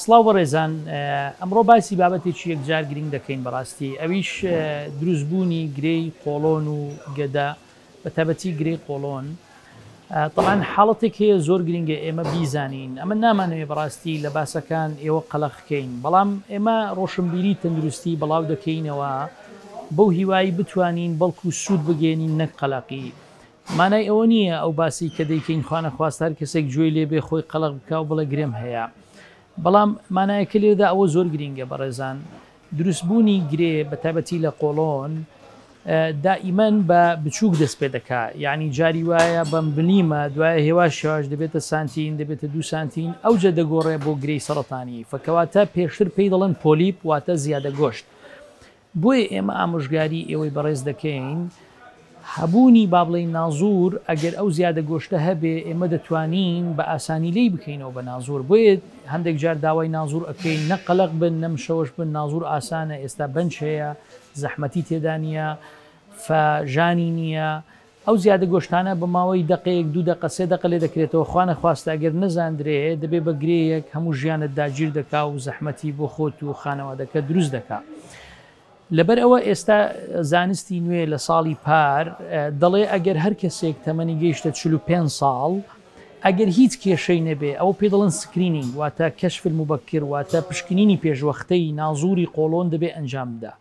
سڵاو بەڕێزان ئەمڕۆ باسی بابەتێکی یەکجار گرنگ دەکەین بەڕاستی ئەویش دروست بوونی گرێی قۆڵۆن و گەدە بە تابەتی گرێی قۆڵۆن طبعاان حاڵەتێک هەیە زۆر گرنگە ئێمە بیزانین ئەمە نامانەوێ بەڕاستی لە باسەکان ئێوە قەلەخکەین بەڵام ئێمە ڕۆشنبیری تەندروستی بڵاو دەکەینەوە بەو هیوایی بتوانین بەڵکو سوود بگەێنین نەک قەلەقی مانای ئەوە نییە ئەو باسەی کە دەیکەین خوانەخواست هەر کەسێک گوێی لێ بێ خۆی قەڵەق بکا و بڵێ گرێم هەیە. بەڵام مانایەکە لێرەدا ئەوە زۆر گرینگە بەڕێزان، دروست بوونی گرێ بە تایبەتی لە قۆڵۆن دائیمەن بە بچووک دەست پێ دەکا. یانی جاری وایە بە ملیمە، دوایە هێواش هێواش دەبێتە سانتین، دەبێتە دوو سانتین، ئەوجە دەگۆڕێ بۆ گرێی سەڕەتانی. فە کەواتە پێشتر پێی دەڵێن پۆلیپ واتە زیادە گۆشت. بۆیە ئێمە ئامۆژگاری ئێوەی بەڕێز دەکەین هەبوونی با بڵێین نازوور ئەگەر ئەو زیادە گۆشتە هەبێ ئێمە دەتوانین بە ئاسانی لێی بکەینەوە بە نازوور بۆیە هەندێک جار داوای نازوور ئەکەین نە قەلەق بن نە مشەوەش بن نازوور ئاسانە ئێستا بەنج هەیە زەحمەتی تێدا نییە فە ژانی نییە ئەو زیادە گۆشتانە بە ماوەی دەقەیەک دوو دەقە سێ دەقە لێدەکرێتەوە خوا نەخواستە ئەگەر نەزاندرێ دەبێ بە گرێیەک هەموو ژیانت داگیر دەکا و زەحمەتی بۆ خۆت و خانەوادەکەت دروست دەکا لەبەر ئەوە ئێستا زانستی نوێ لە ساڵی پار دەڵێ ئەگەر هەر کەسێک تەمەنی گەیشتە 45 ساڵ ئەگەر هیچ کێشەی نەبێ ئەو پێ دەڵن سکرینینگ واتە کەشفل مبەکر واتە پشکنینی پێشوەختەی نازوری قۆڵۆن دەبێ ئەنجام بدا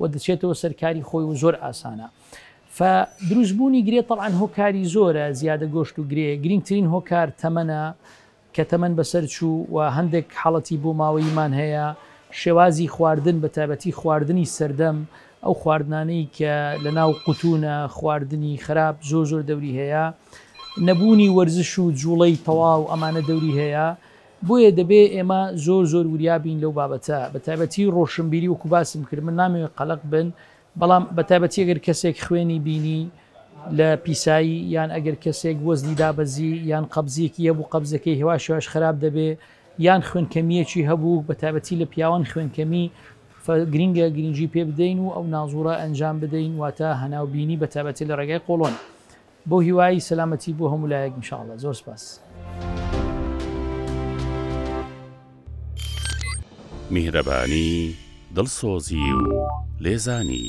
و دەچێتەوە سەر کاری خۆی و زۆر ئاسانە ف دروست بوونی گرێ تەڵعاان هۆکاری زۆرە زیادە گۆشت و گرێ گرنگترین هۆکار تەمەە کە تەمەەن بەسەر چوو و هەندێک حاڵەتی بۆ ماوەیمان هەیە شێوازی خواردن بە تابەتی خواردنی سەردەم ئەو خواردنانەی کە لە ناو قوتونە خواردنی خراپ زۆر زۆر دەوری هەیە نەبوونی وەرزش و جوڵەی تەواو ئەمانە دەوری هەیە بۆیە دەبێ ئێمە زۆر زۆر وریا بین لەو بابەتە، بە تایبەتی ڕۆشنبیری وەکو باسم کرد من نامەوێ قەلەق بن، بەڵام بە تایبەتی ئەگەر کەسێک خوێنی بینی لە پیسایی یان ئەگەر کەسێک وەزنی دابەزی یان قەبزیەکی هەبوو قەبزەکەی هێواش هێواش خەراپ دەبێ یان خوێنکەمیەکی هەبوو بە تایبەتی لە پیاوان خوێنکەمی فە گرینگە گرینگی پێ بدەین و ئەو نازوڕە ئەنجام بدەین واتە هەناو بینی بە تایبەتی لە ڕێگای قۆڵۆن. بۆ هیوایی سەلامەتی بۆ هەموو لایەک ان شاءاللە زۆر سپاس. میهرەبانی، دڵسۆزی و لێزانی.